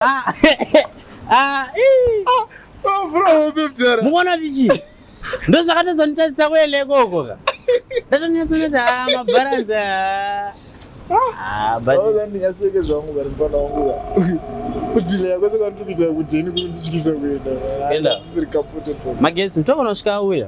Ah, ah, ii. Ah, oh, bro, hope mdara. Muona vichi. Ndo zvakatadza nitadzisa kuele koko ka. Ndatonetsa kuti ah mabaranzi. Ah, ah but oh, then ndingaseke zvangu bari mfana wangu ka. Kudile yako saka ndikuita kuti ndikutyisa kuenda. Enda. Sisiri comfortable. Magetsi mtoko nosvika uya.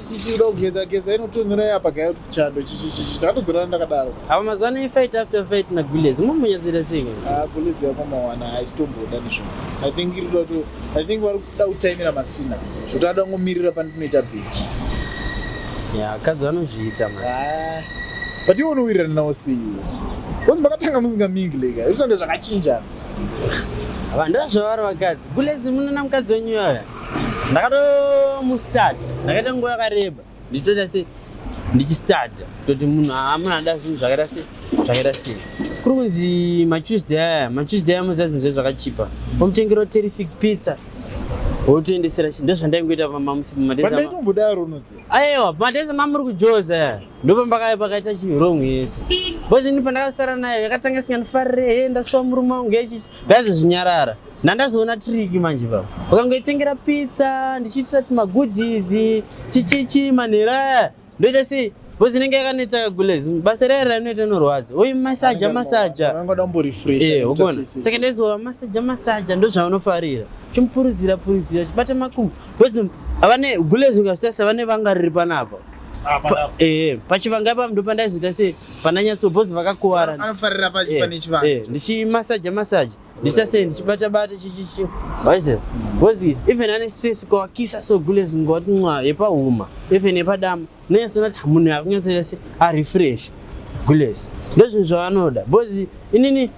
chichida kugeza geza inotonhura yapa gaya kuti chando chichichichi tatozorana ndakadaro apa mazuva ano ifight after fight na gules mumunyatsira sei ah gules yakwamawana haisitomboda nezvo i think iri kuda to i think vari kuda kutaimira masina zvoti ada kungomirira pandinoita big ya akadzi vanozviita ma ah, but iwe unowirirana nawo sei bcause makatanga musingamingi leka izvonde zvakachinjana vanhu ndozvavari vakadzi gules munona mukadzi wenyu yaya ndakatomustad ndakaita nguva yakareba ndichitoita se ndichistad toti munhu amuna ada zvinhu zvakaita se zvakaita sei kuri kunzi matuesday aya matuesday aya muziva zvinhu zve zvakachipa omutengerawo terrific pizza wotoendesera chi ndozvandaingoita pamamusi pamadeaaimbodaro unozi aiwa pamadesa mamuri kujoza ndopambakave pakaita chirong yese bcause ini pandakasara nayo yakatanga isingandifarire he ndasuwa murume wangu yechichi ndaizozvinyarara Nandazoona triki manje baba. Ukangoitengera pizza, ndichiitira tuma goodies, chichichi manera. Ndoita sei? Bozi inenge yakaneta gulez. Basa rere rinoita norwadza. Uyu massage massage. Unangoda mbo refresh. Eh, ugoona. Saka ndezova massage massage ndozvaunofarira. Chimpuruzira puruzira, chibata makumbo. Bozi avane gulez ukasitasa vane vanga riri panapa. Ah, eh, pachivanga apa ndo pandaizoita sei pananyatso bozi vakakuwara. Anofarira pachipane eh, chivanga. Eh, ndichimassage massage. ndichasei ndichibata bata chichichi waiziva bcause even ane stress ukawakisa so gules unga wati nwa yepahuma even yepadama unonyatsona kuti munhu akunyatsoita se arefresh gules ndozvinhu zvavanoda bcause inini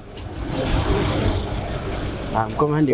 ah, mkomandi